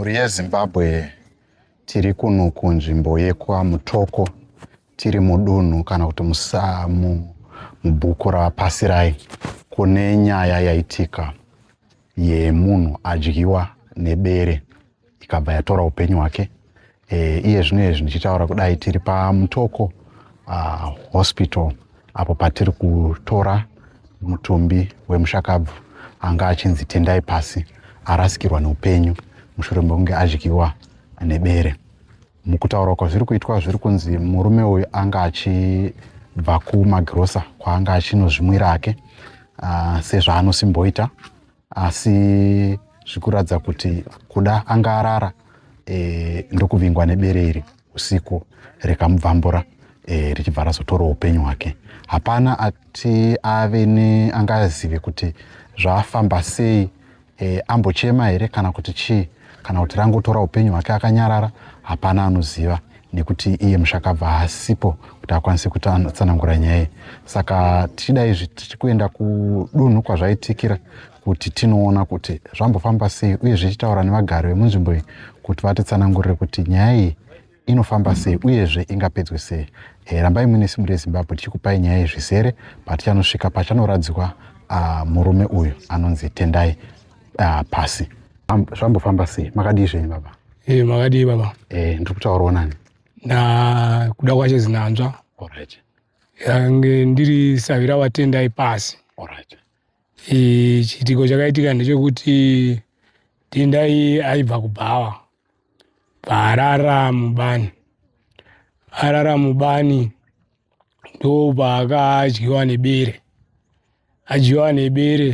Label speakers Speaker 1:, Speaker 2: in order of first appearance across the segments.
Speaker 1: Mhuri yeZimbabwe tiri kuno kunzvimbo yekwaMutoko tiri mudunhu kana kuti musamu mubhuku raPasirai kune nyaya yaitika yemunhu adyiwa nebere ikabva yatora upenyu hwake e, iye zvino izvi ndichitaura kudai tiri pamutoko uh, hospital apo patiri kutora mutumbi wemushakabvu anga achinzi tendai pasi arasikirwa neupenyu mushure mekunge adyiwa nebere mukutaura kwazviri kuitwa zviri kunzi murume uyu anga achibva kumagirosa kwaanga achinozvimwira ake uh, sezvaanosimboita asi zvikuratidza kuti kuda anga arara e, ndokuvingwa nebere iri usiku rikamubvambura e, richibva razotora upenyu hwake hapana ati ave neangazive kuti zvaafamba sei e, ambochema here kana kuti chii kana kuti rangotora upenyu hwake akanyarara hapana anoziva nekuti iye mushakabva haasipo kuti akwanise kutsanangura nyaya iyi saka tichida izvi tichi kuenda kudunhu kwazvaitikira kuti tinoona kuti zvambofamba sei uye zvichitaura nevagari vemunzvimbo iyi kuti vatitsanangurire kuti nyaya iyi inofamba sei uyezve ingapedzwe sei e, rambai muine simu rezimbabwe tichikupai nyaya yezvizere patichanosvika pachanoradzikwa uh, murume uyu anonzi tendai uh, pasi zvambofamba sei makadii zvenyu baba e, makadii baba
Speaker 2: e, ndiri kutaurawo nani
Speaker 1: na
Speaker 2: kuda kwacho zinanzva right.
Speaker 1: yange
Speaker 2: ndiri savira watendai pasi right. e, chiitiko chakaitika ndechekuti tendai aibva kubhawa paarara mubani arara mubani ndo paakadyiwa nebere adyiwa nebere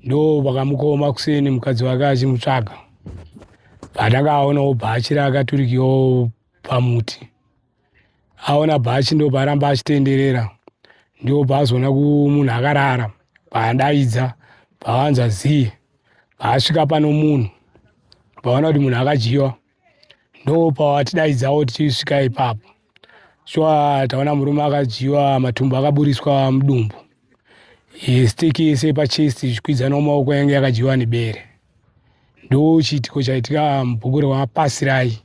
Speaker 2: ndo pakamukoma kuseni mukadzi wake achimutsvaga patakaona obva achira akaturikiwa pamuti aona bhachi ndobva aramba achitenderera ndobva azoona kumunhu akarara paadaidza pavanza zii paasvika pano munhu paona kuti munhu akadyiwa ndopawatidaidzawo tichisvika ipapo shuwa taona murume akadyiwa matumbu akaburiswa mudumbu e, stick yese pachest ichikwidzana mumaoko yange yakadyiwa nebere ndo chiitiko chaitika mubhuku rewapasirai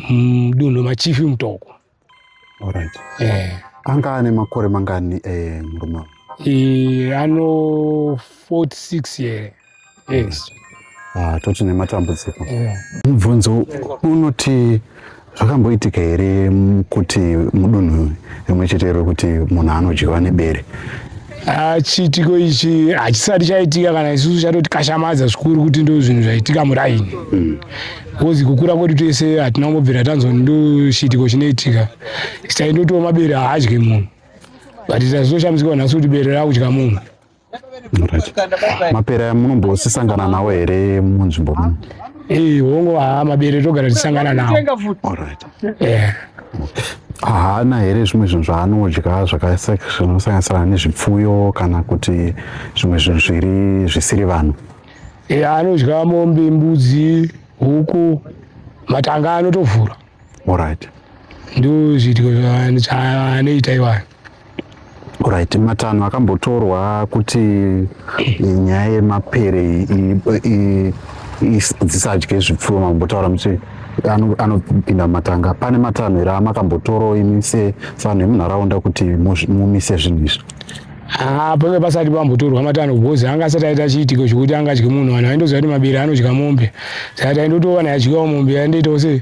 Speaker 1: mudunhu
Speaker 2: mm, machifi mutoko
Speaker 1: eh. anga ane makore mangani eh, murume e, ano 46
Speaker 2: here yeah. yes. Ah, toti
Speaker 1: nematambudziko yeah. mubvunzo unoti zvakamboitika here kuti mudunhu rimwe chete iro kuti munhu anodyiwa nebere ah,
Speaker 2: chiitiko ichi hachisati chaitika kana isusu chatoti kashamadza zvikuru kuti ndo zvinhu zvaitika muraini mm. bcause mm. kukura kwedu tese hatina kumbobvira tanzwa ndo chiitiko chinoitika sitaindotiwo mabere haadye munhu but tazoshambisikwa nhasi kuti bere rakudya munhu
Speaker 1: mapere aya munombosisangana nawo here munzvimbo muno eh, hongo
Speaker 2: haa mabere togara tisangana nawo
Speaker 1: eh. haana here zvimwe zvinhu zvaanodya zvakasanosanganisirana nezvipfuyo kana kuti zvimwe zvinhu zviri zvisiri vanhu eh, anodya
Speaker 2: mombe mbudzi huku matanga anotovhura orit
Speaker 1: ndo
Speaker 2: zvidyo zvaanoita iwayo
Speaker 1: Right, matanho akambotorwa kuti nyaya yemapere dzisadye zvipfuwo mambotaura muti anopinda matanga pane matanho here amakambotorawo imi sevanhu vemunharaunda kuti mumise zvinhu izvi ah, pave
Speaker 2: pasati pambotorwa matanho because anga asati aita chiitiko chekuti angadye munhu vanhu vaindoziva kuti mabere anodya mombe saka taindotoona yadyiwa mombe yaindoitawo sei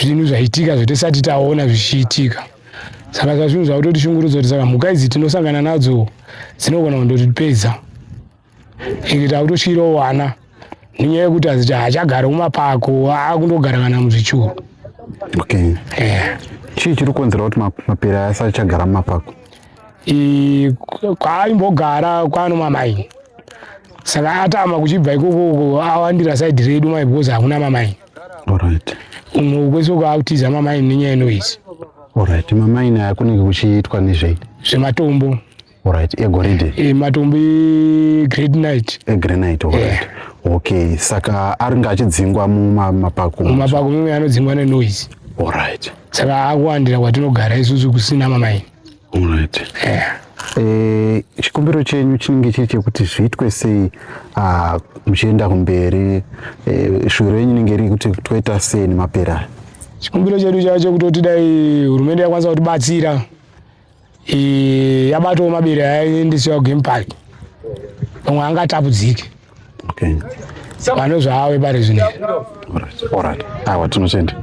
Speaker 2: zvinhu zvaitika zvatisati taona zvichiitika saka sa zvinhu zvakutotishungurudza kuti saka mhuka idzi tinosangana nadzo dzinogona kundotipedza ende takutotyirawo wana nenyaya yekuti aziti haachagari kumapako akundogara kana muzvichuru okay.
Speaker 1: yeah. chii chiri kukonzera kuti mapere aya asachagara mumapako
Speaker 2: kwaaimbogara kwano mamaini saka atama kuchibva ikoko awandira saidi redu mai because hakuna mamaini Alright.
Speaker 1: Uno
Speaker 2: kwese kwautiza mama ini nyaya inoizi. Alright, mama
Speaker 1: ini akunenge kuchiitwa nezvei? Zvematombo.
Speaker 2: Alright,
Speaker 1: egoridhe. Eh, matombo e
Speaker 2: great night. E great night, alright.
Speaker 1: Yeah. Okay, saka aringa achidzingwa mumapako. Mumapako mumwe anodzingwa
Speaker 2: ne noise. Alright.
Speaker 1: Saka akuwandira
Speaker 2: kwatinogara isusu kusina mama ini.
Speaker 1: Alright. Yeah. Eh, chikumbiro chenyu chinenge chiri chekuti zviitwe sei ah, muchienda kumberi eh, shuviro renyu inenge riri kuti toita sei nemapera chikumbiro chedu
Speaker 2: chacho kutoti dai hurumende yakwanisa kutibatsira eh, yabatawo mabere ayaendesiwa kugame park pamwe angatapudzike
Speaker 1: okay.
Speaker 2: vanozvaawe
Speaker 1: pari
Speaker 2: zvino
Speaker 1: awa
Speaker 2: tinotenda